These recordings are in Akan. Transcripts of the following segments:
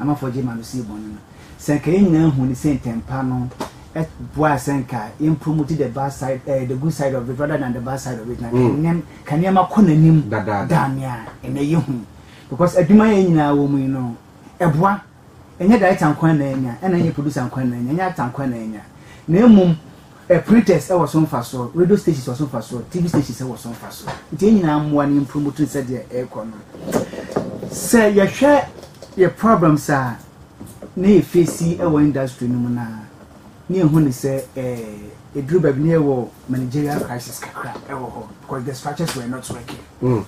Amafo gye ma no sii bɔne no. Sɛ anka yɛn nyinaa hu ne sɛ ntɛmpa no boa a sɛ anka yɛmpro mu te the bad side, uh, the good side of it rather than the bad side of it. Na mm. ka nneɛma kɔ n'anim da nea ɛnɛ yɛ hu. Because adwuma yɛn nyinaa wɔ mu yi no, ɛboa. Ɛnyɛ director nkwa na ɛnya, ɛna ɛnyɛ producer nkwa na ɛnya, ɛnyɛ actor nkwa na ɛnya. Na mmom Ɛ Printers wɔ so mfasoɔ, radio stations wɔ so mfasoɔ, TV stations wɔ so mfasoɔ. Nti yɛn nyinaa mmoa na yɛmpromote no sɛdeɛ ɛrekɔ no. Sɛ yɛhwɛ yɛ problems a na yɛ face wɔ industry no mu no a, na yɛhu ne sɛ eh, ɛduru baabi na yɛwɔ managerial crisis kakra wɔ hɔ because the structures were not working. Mm.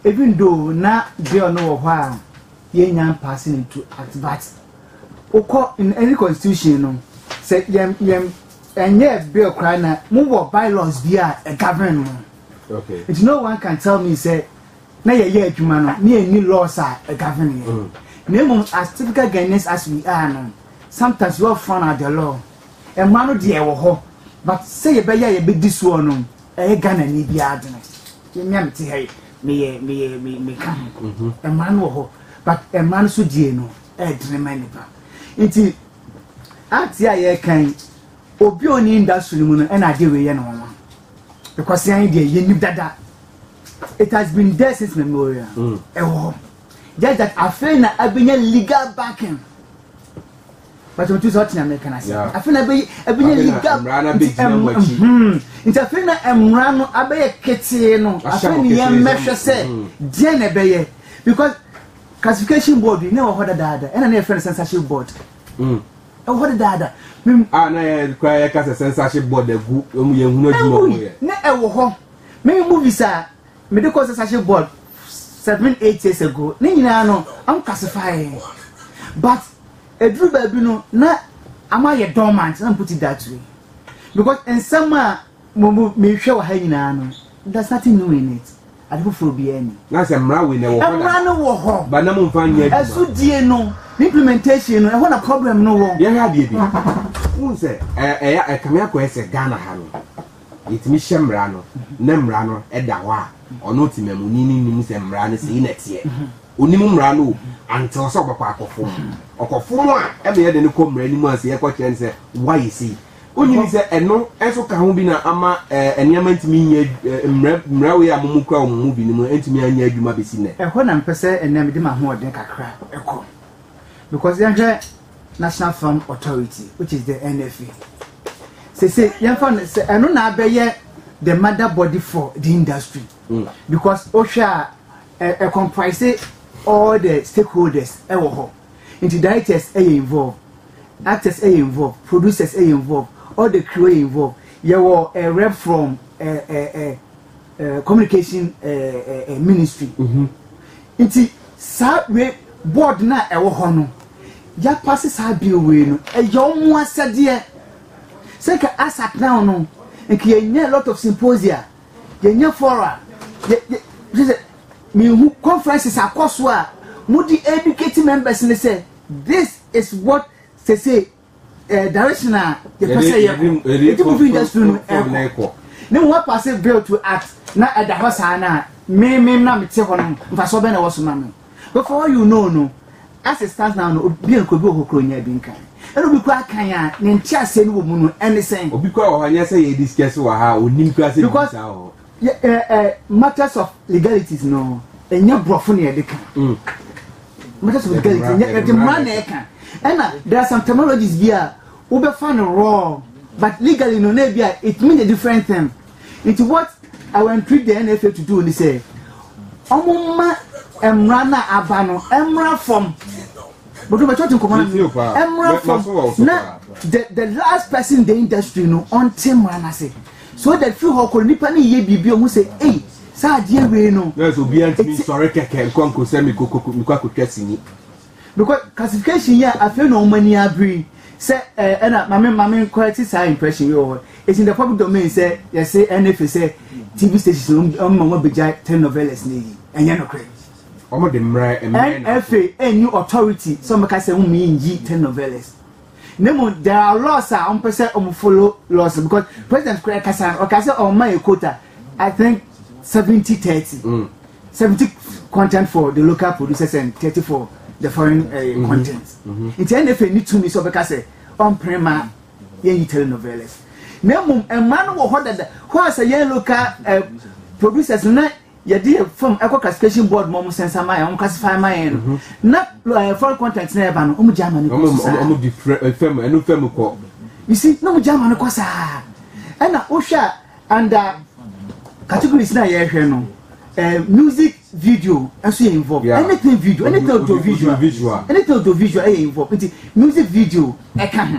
Even though na girl no wɔ hɔ a yɛnya passing into at but Wokɔ in any constitution no sɛ yɛn yɛn ɛnyɛ bill koraa na mo wɔ bylaws bi a ɛ govern mo. Okay. Nti no one can tell me sɛ na yɛyɛ adwuma no ne yɛnni laws a ɛ govern yɛn. Mm. Na mmom as typical Ghanaians as we are no sometimes you all frown at the law. Ɛma no deɛ ɛwɔ hɔ but sɛ yɛbɛyɛ a yɛbɛdi soɔ no ɛyɛ Ghana ni biara adwene. Yɛmia mete ha yi meyɛ meyɛ meka ho. Ɛma no wɔ hɔ. but ɛma no so die no ɛɛdene ma nnipa nti art a yɛreka yi obi a ɔne industry no mu no ɛna adeɛ wei yɛ no wɔn ɛkwasi anyi deɛ yɛn nim dada it has been there since memorial ɛwɔ hɔ just that afei na abɛnya legal backing. But I'm just watching American as yeah. I feel abe abe ye gap nti afei na mmara no abɛyɛ ketee no afei ne yɛn mmɛhwɛ sɛ deɛ na ɛbɛyɛ because classification board yi na ɛwɔ hɔ dadaada ɛna na yɛfrɛ no censorship board ɛwɔ hɔ dadaada. a na yɛ kura yɛ kasa censorship board agu wɔn yɛn hunu adwuma wɔn yɛ. na ɛwɔ hɔ mɛmi movies a. mede kɔɔ censorship board seven eight years ago ne nyinaa no ɔmo classify but eduru baabi no na ama yɛ dormant na mputi da tue because nsɛm a mo mo mehwɛ wɔ ha nyinaa no there's nothing new in it ade foforɔ biara ni. na sɛ mmara wei na ɛwɔ hɔ mmara no wɔ hɔ ba na mo nfa nyɛ adwuma ɛso die no ne implementation no ɛhɔ na problem no wɔ. yɛhwɛ adeɛ bi n sɛ ɛyɛ ɛkame akɔ ɛsɛ Ghana ha no. yɛtumi hyɛ mmara no na mmara no da hɔ a, ɔno ɔtemamuni no nnim sɛ mmara no sei na ɛteɛ. Ɔnim mmara no o, until sɛ ɔbɛkɔ akɔfom. Ɔkɔfom a, ɛma yɛde no kɔ mmara no mu ansa yɛkɔkyerɛ no sɛ woayɛ sei. Wonnim sɛ ɛno nso ka ho bi na ama nneɛma ntumi nyɛ mmara mmara wei a momokura wɔ mo mu binom ntumi anyɛ adwuma bɛsi nnɛ. Ɛhɔ na mepɛ sɛ ɛnnɛ mede m'ahoɔden kakra kɔ. Because yɛnhwɛ National Farm Authority, which is the NFA. Say say yɛmfa no sɛ ɛno na abɛyɛ the mother body for the industry mm. because wohwɛ a ɛ comprise all the stakeholders ɛwɔ hɔ nti directors ɛyɛ involved actors ɛyɛ involved producers ɛyɛ involved all the crew ɛyɛ involved yɛwɔ a rep from ɛɛ ɛɛ. eh, communication eh, eh, eh ministry mhm. nti saa wei board no a ɛwɔ hɔ no yɛapa se saa bill wei no ɛyɛ ɔmo asɛdeɛ sɛ nka asat now no nka yɛnya a lot of symposia yɛnya fora sɛ mehu conferences akɔ so a mode educate members ne sɛ this is what sese ɛɛ eh, direction a yɛpɛ sɛ yɛkɔ eti movie industry no ɛkɔ ne ho apase bill to act na ɛda hɔ saa na mmemmem na mete hɔ no mfasoɔ bɛn na ɛwɔ so ma me before you know no as it stands now no obi nko bi wɔ hɔ kuro nya bi nkan ɛna obi kura kan a ne nte aseɛ no wɔ mu no ɛne sɛn. obi kura wɔ hɔ nyɛ sɛ yɛ discuss wɔ ha onim kura sɛ bi sa wɔ hɔ. Yɛ ɛ ɛ matters of legalities no ɛnyɛ borɔfo na yɛde ka. Mm. Matters of legalities ɛnyɛ ɛde mmara na ɛka. Ɛna there are some terminologies bi a wobɛfa no wrong but legally no na ebi a it mean a different thing. Nti what I will entreat the NFA to do ni sɛ ɔmo mma mmara na aba no mmara fam bɔdɔ bɛ tɔɔte nkɔmɔ na mi mmara fam na the the last person in the industry no ɔnte mmara na se. Soja firi hɔ kɔr nipa ne yɛ biribi ohun sɛ ei saa adeɛ wei no. Nurse obiara ntumi nsɔre kɛkɛ nkɔ nko sɛ mekɔ mekɔ akɔtwa sini. Because classification yi a afei na wɔn ani abere yi sɛ ɛɛ ɛna maame maame nkɔrɛte saa impression yi wɔ hɔ it's in the public domain sɛ yɛse NFA sɛ TV stations na wɔn ma wɔn abɛgya telenovelas na yi ɛnyɛ nokorɛ. Wɔn de mmerɛ mmerɛ na. NFA ɛnni authority sɛ wɔn bɛka sɛ wɔn mmiɛnyi telenovelas. na mmom there are laws a wɔn pɛ sɛ wɔn follow laws no because president kura kasa no ɔka sɛ wɔn ma yɛ quota i think seventy thirty mm. seventy content for the local producers and thirty for the foreign uh, mm -hmm. content mm-hmm. nti ɛna efe ni tumi sɛ ɔbɛka sɛ ɔmpere ma yɛn yi telenovelas na mmom mmaa no wɔ hɔ dada hɔ a sɛ yɛn local uh, producers na. yɛde yɛ fam ɛkɔ classification board mu ɔmo sɛnsa ma yɛn ɔmo classify ma yɛn no mhm. na ɛɛ eh, foreign content na ɛba no ɔmo gya ama ne kɔ so saa ɔmo di eh, fam ɛnu fam kɔ you see na ɔmo gya ama ne kɔ saa ɛna wohwɛ a under categories na yɛhwɛ no ɛɛ eh, music video ɛso yɛ involve yeah. anything video anything audio visual anything audio visual ɛyɛ involve nti music video ɛka ho.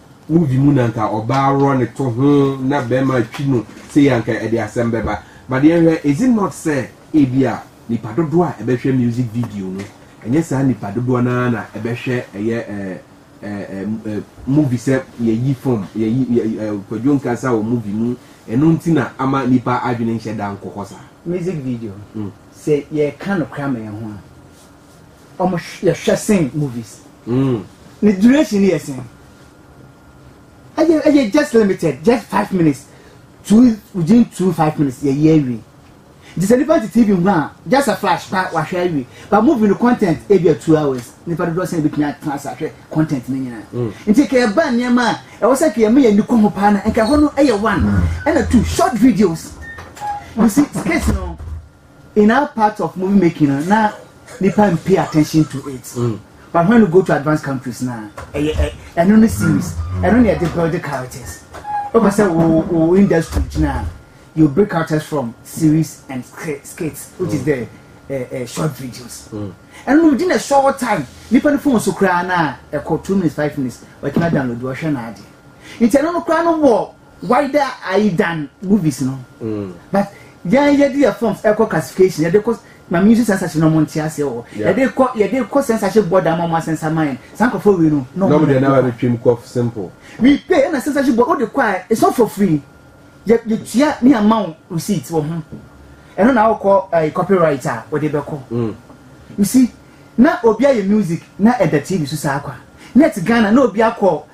Movie mu na nka ɔbaa worɔ ne to ho na bɛɛma atwi no sei anka ɛde asɛm bɛba but yɛnhwɛ is it not sɛ ebia nipa dodoɔ a ɛbɛhwɛ music video no ɛnyɛ saa nipa dodoɔ no ara na ɛbɛhwɛ ɛyɛ ɛɛ ɛɛ ɛɛ movie sɛ yɛyi fam yɛyi ɛɛ kwadwo nkansa wɔ movie mu ɛno nti na ama nipa adwene nhyɛ da nkɔ hɔ saa. Music video sɛ yɛreka nokora ma yɛn ho a. ɔmo yɛ hwɛ sen movies mm. ne duration yɛ sen ɛyɛ ɛyɛ just limited just five minutes two within two five minutes yɛ yɛ awie nti sɛ nipa ti tv ho a just a flash pa wahwɛ awie but movie no content ebi a two hours nipa dodoɔ sɛn ebitumi atena ase ahwɛ content ne nyinaa mm. nti kɛ ɛba nneɛma a ɛwɔ sɛ kɛ ɛmo yɛ nikɔ ho paa na nka hɔ no ɛyɛ one ɛna two short videos you see skits no. In our part of movie making no na nipa n pay attention to it mm. but when you go to advanced countries na ɛyɛ eh, ɛno eh, eh, ne series ɛno ne ɛde build the characters wopɛ sɛ wo wo industry gyina you break characters from series and skits which is mm. the uh, uh, short videos mm. ɛno no within a short time nipa ne phone so koraa na ɛkɔ two minutes five minutes wɔtumi download wɔhwɛ na ade nti ɛno no koraa no wɔ Wider Eye than movies no but yɛn yɛde yɛ forms ɛkɔ classification yɛde kɔ maame nsu censorship na ɔmo nte aseɛ wɔ yɛde kɔ yɛde kɔ censorship board ama ɔmo asɛnsa ma yɛn saa nkorɔfoɔ wei no na ɔmo deɛ na bɛtwam kɔ simple we pay ɛna censorship board wode kɔ a it's not for free yɛ yɛtua ne ama wo receipt wɔ ho ɛno na wokɔ ɛɛ copyright a wɔde bɛkɔ you see na obi ayɛ music na ɛda tv so saa kwa net Ghana na obi akɔ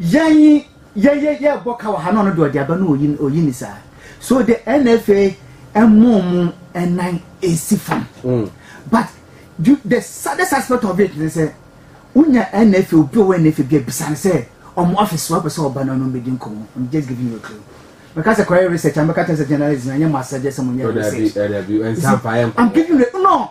Yɛn yɛ yɛ yɛ bɔ ka wɔ ha na ɔno de ɔde aba no oyi oyi ne saa so de NFA ɛmo mo ɛnan esi fam mm. but you, the saddest aspect of it ne sɛ wonya NFA obi ɔwɔ NFA bi abisa ne sɛ ɔmo office wɔ pɛ sɛ ɔba na ɔno mbɛdi nkɔmɔ I'm just giving you a clue mɛka sɛ kɔyɛ research a mɛka kyɛ sɛ journalism anyɛ mo asɛgye sɛ mo nyɛ research I'm giving you no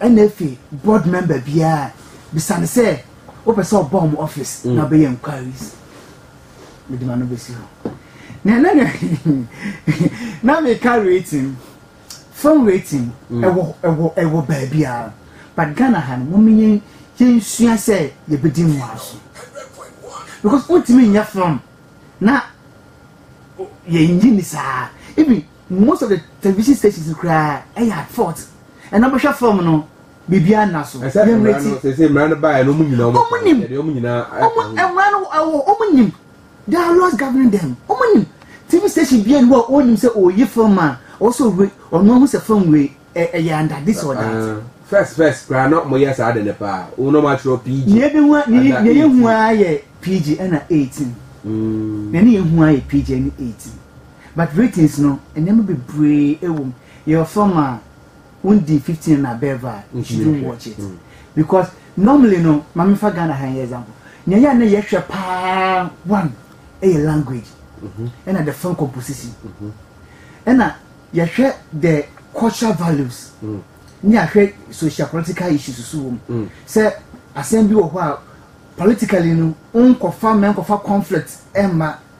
Ɛna afei board member biara bisa no sɛ wopɛ sɛ ɔba wɔn office na ɔbɛyɛ inquiries mede ma no bɛsi hɔ na na na na meka rating phone rating ɛwɔ ɛwɔ ɛwɔ baabiara but Ghana ha no wɔn yɛn yɛn sua sɛ yɛbɛdi mmoa so because wontumi nyɛ phone na yɛnyi ni saa ebi Most of the television stations koraa yɛ at fault. Ɛna bɛhwɛ fam no biribiara nna so. Ɛsɛ mmara no sese mmara no baeɛ no wɔn nyinaa wɔn kɔ yɛde wɔn nyinaa ɛkɔ ho. Mmara no ɛwɔ wɔn nim there are laws governing them wɔn nim TV station bia ni hɔ a wɔnim sɛ ɔyi film a ɔsɔ wei ɔno ahu sɛ film wei ɛyɛ under this or that. Ah, first first koraa na wɔn yɛ saa de ne paa wɔn na wɔn atwerɛ PG. Nea ebi hu nea nea yɛ hu ayɛ PG ɛna eighteen. Mm. Nea ne yɛ hu ayɛ PG ɛne eighteen. But ratings no nneɛma bebree wɔ mu yɛwɔ fam a wo di fifteen na above a you shouldn't watch it because normally no ma me fa Ghana ha yɛ example nea yɛ a na yɛhwɛ paa one ɛyɛ language mhm. ɛna the film composition mhm. ɛna yɛhwɛ the cultural values mm. ne ahwɛ social political issues so wɔ mu mm. sɛ asɛm bi wɔ hɔ a politically no nkɔfa mɛnkɔfa conflict ɛmma.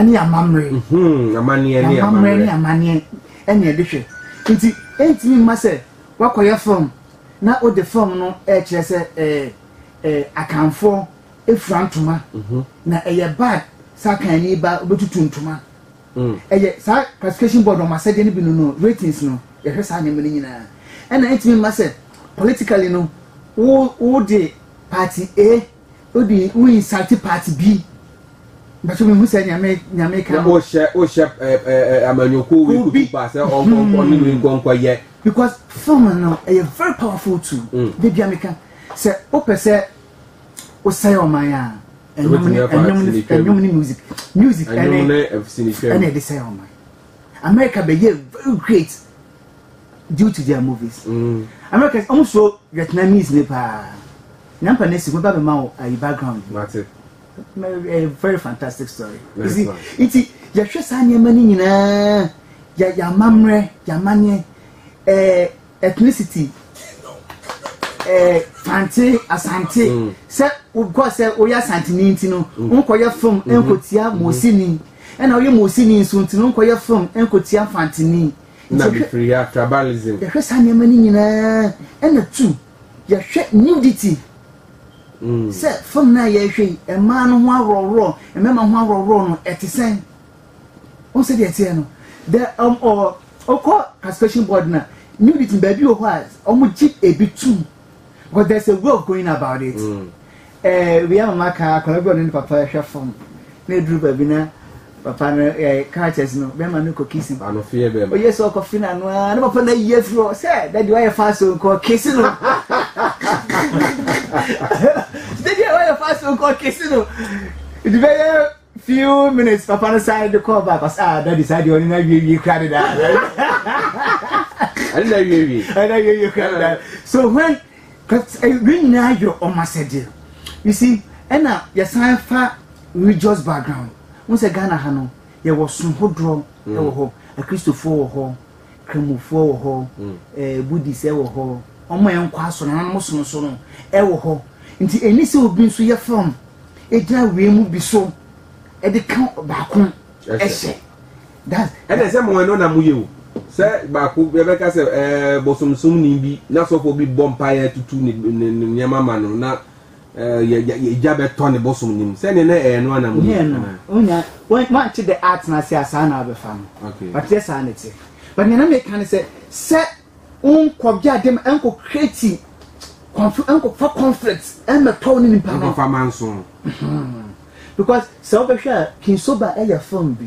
ne amammerɛ amanneɛ ne amammerɛ ne amanneɛ ɛne ɛde hwɛ nti ɛntumi mma sɛ wakɔyɛ fam na wode fam no ɛkyerɛ sɛ ɛɛ ɛɛ akanfoɔ efura ntoma mhm. na ɛyɛ bad sɛ akanni ba obetutu ntoma mm. ɛyɛ saa classification board ɔmo asɛdeɛ no bi no no ratings no yɛhwɛ saa nneɛma no nyinaa ɛna ɛntumi mma sɛ politically no wo wo de party a. Wo de wo insult part bi. Bàtò mi hu sɛ nyame nyame kan. Na o hyɛ o hyɛ ɛɛ ɛɛ amanyɔkuo wei kutu ba sɛ ɔnkɔ nkɔ ne wei nkɔ nkɔ yɛ. Because film no ɛyɛ very powerful tool. Mm. De bia mi ka sɛ o pɛ sɛ o sɛ yɛ ɔman a. Ɛnyɔm ne ɛnyɔm ne ɛnyɔm ne music music ɛne ɛnyɔm ne sinitwam ɛne ɛde sɛ yɛ ɔman. America bɛ yɛ very great due to their movies. Mm. America ɔmo so Vietnamese ne paa. Nyampa nesi mɛba bɛma wo ayi background bi. Mate. Ɛyɛ very fantastic story. You see, nti yɛhwɛ saa nneɛma no nyinaa, yɛ yɛamammerɛ, yɛamanneɛ, ɛɛ ethnicity, ɛɛ Fante, Asante, mm. sɛ wokɔ sɛ woyɛ Asanteni nti no, mm. wonkɔyɛ fam mm-hmm. nkotia mm-hmm. Mosini, ɛna woyɛ Mosini nso nti no, wonkɔyɛ fam nkotia Fanteni. Na mefiri ya tribalism. Yɛhwɛ saa nneɛma no nyinaa, ɛna tu. Yɛhwɛ nudity sɛ fam no a yɛhwɛ yi, mmaa no ho ahorɔhorɔ, mmarima ho ahorɔhorɔ no, ɛte sɛn? Wɔn sɛ deɛ ɛteɛ no, the um, or, ɔkɔ classification board na nudity baabi wɔ hɔ a wɔn gye ebi tum, but there's a way of going about it. Mm. Ɛɛ wia mma ka akwadaa bi a ɔne ne papa hwɛ fon na eduru baabi na papa no ɛɛ characters no bɛrima no kɔ kisi no. Ano fie bɛrima. Oye sɛ ɔkɔ fi na ano aa ne papa na yi afiri hɔ sɛ dadi wayɛ fa so nkɔ kisi no. Dadi wayɛ fa so nkɔ kisi no. Ebi bɛyɛ. Few minutes papa no san de kɔɔ back ɔsɛ ah daddy saa deɛ ɔne na wiewie kura de daa. Ɛne na wiewie. Ɛne na wiewie kura de daa. So when cause eh, wei nyinaa yɛ ɔmo asɛdeɛ. You see ɛna yɛsan fa religious background. Wọ́n sɛ Ghana ha no yɛwɔ som hodoɔ ɛwɔ hɔ. Akristofoɔ wɔ hɔ. Kramofoɔ wɔ hɔ, ɛɛ Buddhist wɔ hɔ, wɔn a ɛnkɔ asɔre na wɔn som so no ɛwɔ hɔ. Nti ɛni sɛ obi nso yɛ fam egyina wei mu bi so ɛde ka baako ɛhyɛ. That's. Ɛna sɛ mo ɛno na mo yɛ o. Sɛ baako yɛbɛka sɛ ɛɛ bosomsomni bi na sɔfo bi bɔ mpaeɛ tutu ne ne nneɛma ma no na. Egya bɛtɔ ne bosom no mu sɛdeɛ na ɛyɛ no anam yi anaa? Onya wɔnte dɛ atena ase a saa na abɛfa no. But yɛ saa ne te. But nea na meka ne sɛ sɛ nkɔ gya dem nkɔ create confu nkɔ fa conflict mmɛtɔ ne nipa no. Nkɔ fa manso. Because sɛ wobɛhwɛ a King Soba ɛyɛ film bi.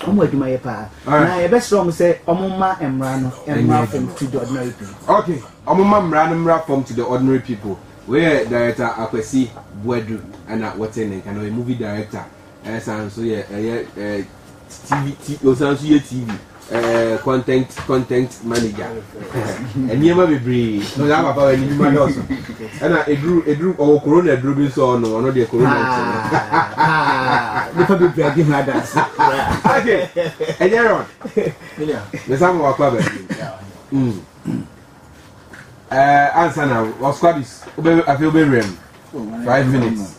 wɔn adwuma yɛ paa na yɛbɛsrɛ wɔn sɛ wɔn mma mmara no mmara fam to the ordinary people. okay wɔn mma mmara no mmara fam to the ordinary people wei yɛ director akwasi buadu ɛna wɔte ne nka na ɔyɛ movie director ɛsan nso yɛ ɛyɛ ɛɛ tv tv ɔsan nso yɛ tv ɛɛ content content manager. nneɛma bebree na ɔyɛ papa wɔ n'adwuma dɔɔso ɛna eduru eduru ɔwɔ korona eduru bi nso ɔno ɔno deɛ korona ti no. nipa bebree adi ho adansi. ake ɛnyɛ rɔd nsa ma wakɔ abɛn mu ɛɛ ansa na wɔ squadis wobɛ afei wobɛ wura mu five minutes.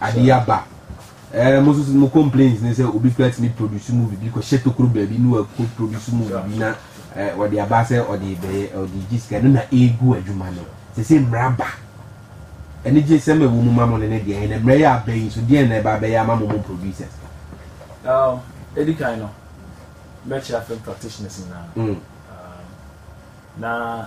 Ade aba. Eh, mo nso mo complaints ne sɛ obi kura tumi produce movie bi kɔhyɛ tokuro baabi ne wakɔ produce movie bi na eh, ɔde aba sɛ ɔde bɛyɛ ɔde gye sika no na egu adwuma no sɛ sɛ mmara ba ɛne gye sɛm ɛwɔ mu ma mo ne ne deɛ ɛna mmara yɛ aba yi nso deɛ na ɛba abɛyɛ ama mo mo producers. Um, edi kan no mɛkyerɛ film practitioners nyinaa mm. um, na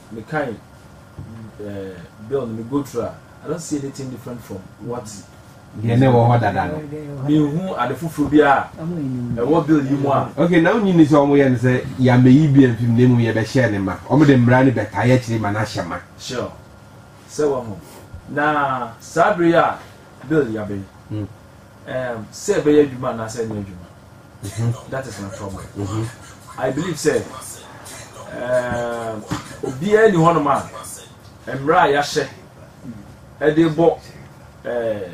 me kan eh, bill no me go through a, I don't see anything different from what deɛ na ɛwɔ hɔ dada no mehu ade foforɔ bi a ɛwɔ bill yi mu a ok na wonyi ni sɛ ɔmo yɛ no sɛ yɛamɛyi bi amfim na mmom yɛbɛhyɛ ne ma ɔmo de mmara no bɛtae akyiri ma no ahyɛ ma sure sɛ wahu na saa bere yi a bill yɛabɛyi hmm. Um sɛ ɛbɛyɛ adwuma anaasɛ ɛnyɛ adwuma. Mm-hmm. That is my problem. Mm-hmm. I believe sɛ um, obiara ni hɔnom a mmerɛ a yɛahyɛ ɛde bɔ eh,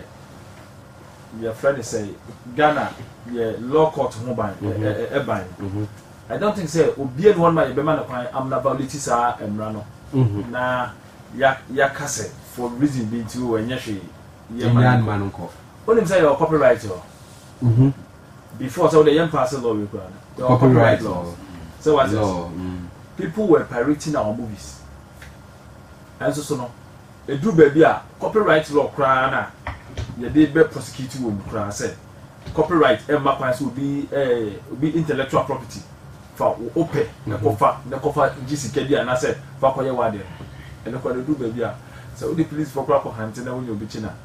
yɛfrɛ no sɛ Ghana yɛ law court ho ban ɛban. Mm-hmm. Eh, eh, mm-hmm. I don't think sɛ obiara ni hɔnom a yɛbɛma no kwan amena violate saa mmerɛ no mm-hmm. na yɛaka sɛ for reason bi nti o ɛnyɛ hwee yɛma no nkɔ. Wonim sɛ yɛwɔ copyright law Mhm. before sɛ wode yɛ mfa ase law wei koraa no. Yɛwɔ Copyright copyright law. laws. Sɛ wate Law. ase. Mm. People were pirating our movies. Ɛnso so no, ɛduru baabi a copyright law koraa no a yɛde bɛ prosecute wɔ mu koraa sɛ copyright ɛmma kwan sɛ obi eh, obi intellectual property fa wo wopɛ na kɔfa na kɔfa gye sika bi anaasɛ fa kɔyɛ w'adeɛ no. Ɛno koraa no ɛduru baabi a sɛ wode policefoɔ koraa kɔhante na wonya obi kye no a,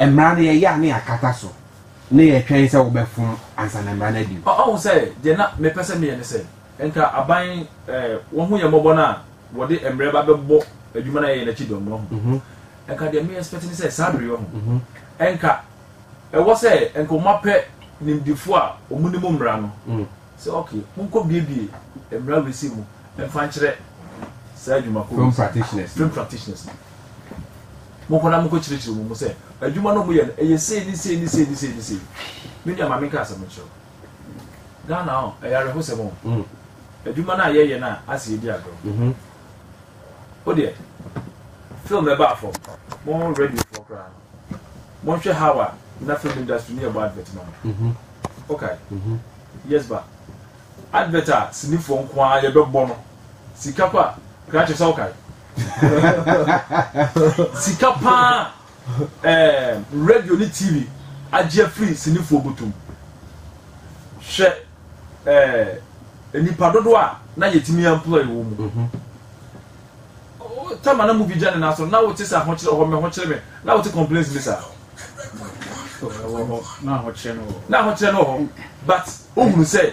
Mmara no, yɛyɛ a na yɛakata so, na yɛtwɛn sɛ wobɛfom ansa na mmara no adi mu. Ɔahu sɛ, deɛ na mepɛ sɛ meyɛ ne sɛ, nka aban wɔahu yɛn mmɔbɔ no a wɔde mmerɛ ba bɛbɔ adwuma no a yɛyɛ no akyi dɔm no ahu. Nka deɛ me expect ne sɛ, saa bere yi ɔho, nka ɛwɔ sɛ nka wɔn apɛ nimdefoɔ a wɔn nim mmara no sɛ ok, monkɔ biebie mmara wei sei mu mfa nkyerɛ saa adwumakuo wei sei, film practitioners no. Monkɔ na monkɔkyerɛkyerɛ wɔn mu sɛ, adwuma no a moyɛ no, ɛyɛ sei ne sei ne sei ne sei ne sei. Me nua, ma menka asɛm nkyerɛ wo. Ghana ɔ, ɛyɛ awerɛhosɛm o. Mm. Adwuma no a yɛyɛ no a, ase yɛdi agorɔ. Mhm. Wo deɛ, film ɛbaa fam, mo radiofoɔ koraa no, monhwɛ how a na film industry no yɛbɔ advert ma no. Mhm. Okay. Mhm. Yes, ba. Advert a sinifoɔ nko ara yɛbɛbɔ no, sika kɔ a, kra kyerɛ sɛ wokae. sika paa eh, radio ne tv agye afiri sinifoɔ botom hwɛ eh, nnipa dodoɔ a na yɛtumi employ wɔ mu mhm. tama na muvi gya ne naso na wote sɛ ahokyerɛ hɔ me hokyerɛ me na wote complaints bi saa na ahokyerɛ no hɔ but wohunu sɛ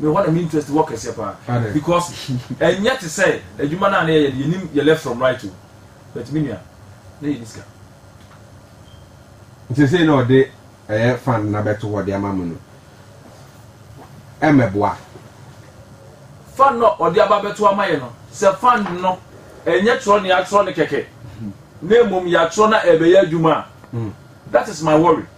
Me hɔ na me interest wɔ kɛseɛ paa because ɛnyɛ te sɛ adwuma no a na yɛyɛ no yɛnim yɛ left from right o but me nua na yɛni sika. Seesei na ɔde ɛyɛ fund no abɛto hɔ de ama mo no ɛmmɛboa. Fund no a ɔde aba abɛto ama yɛ no sɛ fund no ɛnyɛ twerɛ na yɛatwerɛ no kɛkɛ na mmom yɛatwerɛ na ɛrebɛyɛ adwuma a that is my worry.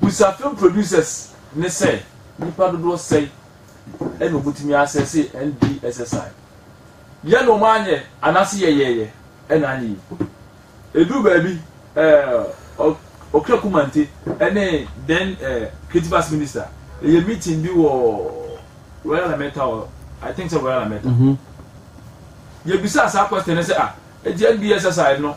Bisa film producers ne sɛ nnipa dodoɔ sɛn na wɔbɛtumi asɛse NDSSI. Yɛ na wɔanyɛ anaase yɛyɛeɛ na anyɛ yi. Ɛduru baabi eh, Okra Kumante ne then eh, Creative Arts Minister ɛyɛ meeting bi wɔ Royal Lametta or I think sɛ Royal Lametta. Mm -hmm. Yɛbisaa saa question ne sɛ ah, ɛti NDSSI no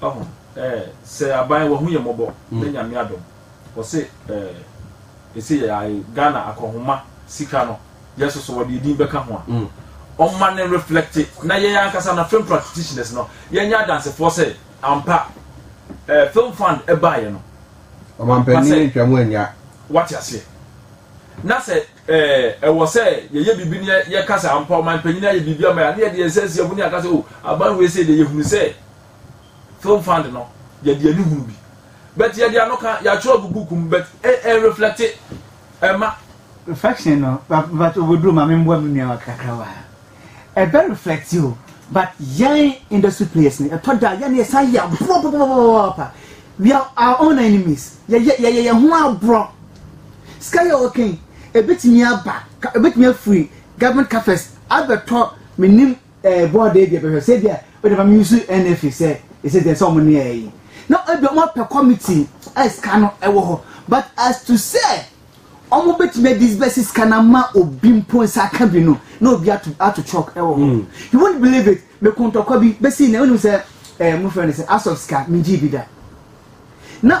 Wahu eh, sɛ aban wahu yɛ mɔbɔ na Nyame adom Ɔse eh, ese yɛ ae Ghana akɔhoma sika no yɛ soso Wɔde yɛ din bɛka ho a ɔmma ne reflecte Na yɛn ankasa no film practitioners no yɛnyɛ adansefoɔ sɛ ampa eh, film fund ɛbaeɛ no Ɔmampanin ntwa mu annya Wate aseɛ Na sɛ eh, ɛwɔ sɛ yɛyɛ biribi na yɛka sɛ ampa ɔmanpanyin ayɛ biribi ama yɛ a na yɛde yɛn nsa si ɛbo ne yɛaka sɛ oh, aban wei sei deɛ yɛhunu sɛ Film Fund no, yɛde ani hunu bi. But yɛde ano ka, yɛatwerɛ agu book mu, but ɛnreflɛkte ɛma. Reflection no, but oboduro ma me mboa me nua wa kakra wa ha. Ɛbɛ reflɛkte o, but yɛn industry players no, ɛtɔ da yɛn yɛsan yɛ aborɔ papapapapa. We are our own enemies. Yɛyɛ yɛyɛ yɛn ho aborɔ. Sika yɛ ɔkɛn, ɛbɛtumi aba, ɛbɛtumi afiri government coffers abɛtɔ menim. ɛɛ bɔɔ dɛ bi ɛbɛhwɛ sɛ ebia ɔde ma mi yusu NFA sɛ ɛsɛ deɛ sɛ wɔn ne ɛɛ yi na ebia wɔn apɛ kɔmiti a sika no ɛwɔ hɔ but as to sɛ wɔn betumi adi bɛsi sika no ama obi mpo nsa aka bi no na obi ato ato chalk ɛwɔ hɔ mm. you won't believe it meko ntɔkwa bi bɛsi na ɛwɔ nim sɛ ɛɛ mo fɛn no sɛ asɔf sika mi gyi bi da na.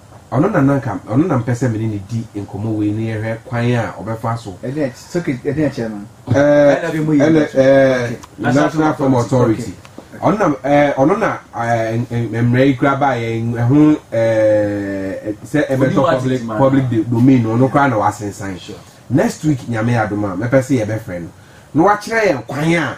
Ɔno na na anka ɔno na mepɛ sɛ me ne no di nkɔmmɔ wei na yɛhwɛ kwan a ɔbɛfa so. National Film Authority, ɔno na ɔno na mmara yi kura baa yɛn ɛho sɛ ɛbɛtɔ public public domain no ɔno koraa na wasensan. Next week Nyame adom a mɛpɛ sɛ yɛbɛfrɛ no na wakyerɛ yɛn kwan a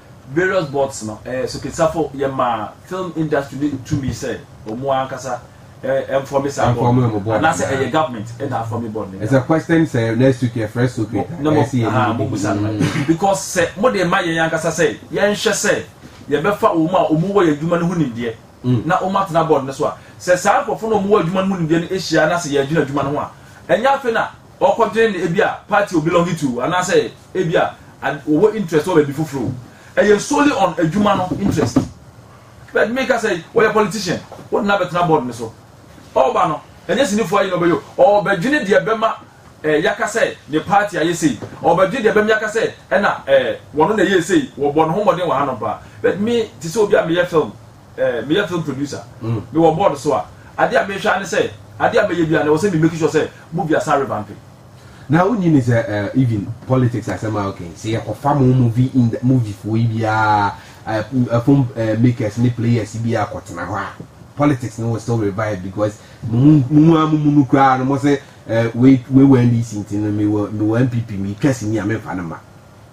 Various boards no soketsafo yɛ maa film industry no tumi sɛ ɔmo ankasa nfɔme saa board no anaasɛ ɛyɛ government na afɔme board no nyinaa. Ɛsɛ question sɛ next week yɛ fresh soak it a ɛsɛ yɛ ni busa no because sɛ mo de ma yɛn ankasa sɛ yɛn hwɛ sɛ yɛ bɛ fa wɔn a wɔn wɔ yɛ adwuma no ho nimdeɛ na wɔn atena board no so a sɛ saa nkorɔfo na wɔn wɔ adwuma no ho nimdeɛ no ahyia na sɛ yɛ adwene adwuma no ho a ɛnyɛ afei na ɔkɔdwen no ebi a party o belong to anaasɛ ebi a wɔwɔ interest wɔ baabi foforo o ɛyɛ solely on adwuma no interest but me kasa yi wɔyɛ politician wɔde no abɛtena board no so ɔba no ɛnyɛ sinifo ayi na ɔbɛyɛ ɔbɛdwene deɛ bɛma ɛɛ yaka sɛ ne party ayɛ sei ɔbɛdwene deɛ bɛma yaka sɛ ɛna ɛɛ wɔn na ɛyɛ sei wɔbɔ ne ho mmɔden wɔ ha no paa but me te sɛ obi a meyɛ film Eh, meyɛ film producer. Mewɔ board so a, adeɛ a mehwɛ ara ne sɛ, adeɛ a mɛyɛ biara no, ɛwɔ sɛ me make sure sɛ movie asa revampe. Na wonyi ne sɛ eh, even politics asɛm a okay, sɛ yɛkɔfa mo movie in movie foɔ yi biara, eh, eh, film eh, makers ne players yi biara kɔtena hɔ a, politics no will still revive because mo mu a mo mu no koraa no mo sɛ eh, wei wei wɔ NDC nti no mewɔ mewɔ NPP metwa sini a memfa no ma.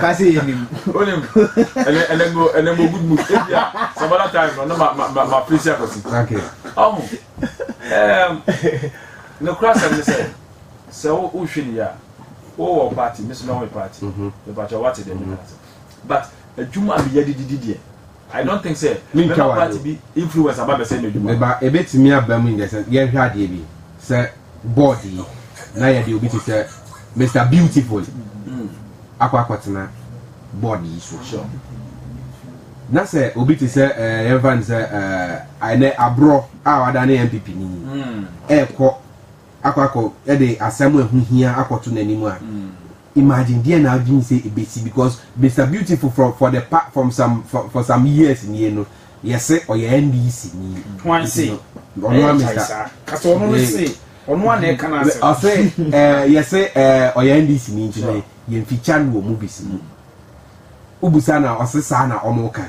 Ka se yɛ nim. Onim. Ɛnɛ ɛnɛ mo ɛnɛ mo good mood. Ebia some other time no na ma ma ma ma face akwasi. Okay. Ɔho. Ɛɛm. Ne kura sɛm ne sɛ sɛ wo wo hwɛ ne yɛ a wo wɔ party me so mɛ wɔ me party. Mepatwa wate deɛ meka no sɛ but adwuma a meyɛ de didi deɛ. I don't think sɛ mɛma party bi influence aba bɛsɛ m'adwuma. Ɛba ɛbɛtumi aba mu in the sense yɛnhwɛ adeɛ bi sɛ board yi na yɛde obi te sɛ Mr Beautiful mm. akɔ akɔtena board yi so. Sure. na sɛ obi te sɛ ɛɛ eh, yɛnfa ne sɛ ɛɛ eh, ɛnɛ aborɔ a wada ne npp ni hmm. ɛɛkɔ akɔ akɔ ɛde asɛm ɛho hia akɔto n'anim a hmm. Imagine deɛ na adwene sɛ ɛbɛsi because Mister Beautiful for for the pa from some for for some years nie no yɛse ɔyɛ NDC ni. Wan se ɛyɛ gyae saa kasɛ ɔno no se ɔno a na ɛka no asɛm. Ɔse ɛɛ yɛse ɛɛ ɔyɛ NDC ni nti no yɛn feature no wɔ movies mu. Wobusa na ɔse saa na ɔmo kan.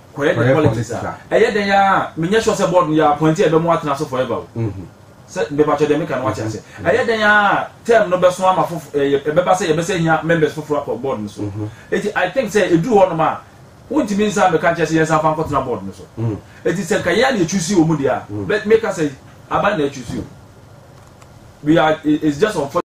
kɔyɛ ne politics a ɛyɛ dɛn ara a menyɛ sure sɛ board no yɛ appointee a ɛbɛ mo atena so forever o mm-hmm. sɛ mepatwɛ deɛ meka no wate ase mm-hmm. ɛyɛ dɛn ara a term no bɛso ama fofo ɛyɛ ɛbɛba sɛ yɛbɛsɛ hia members foforɔ akɔ board no so mm-hmm. eti i think sɛ eduru hɔ nom a wontumi nsa meka nkyɛn sɛ yɛn nsa fa nkɔtena board no so mm. eti sɛ nka yɛn a na etusi wɔn mu deɛ a mm. meka sɛ aban na etusi o we are it's just unfortunate.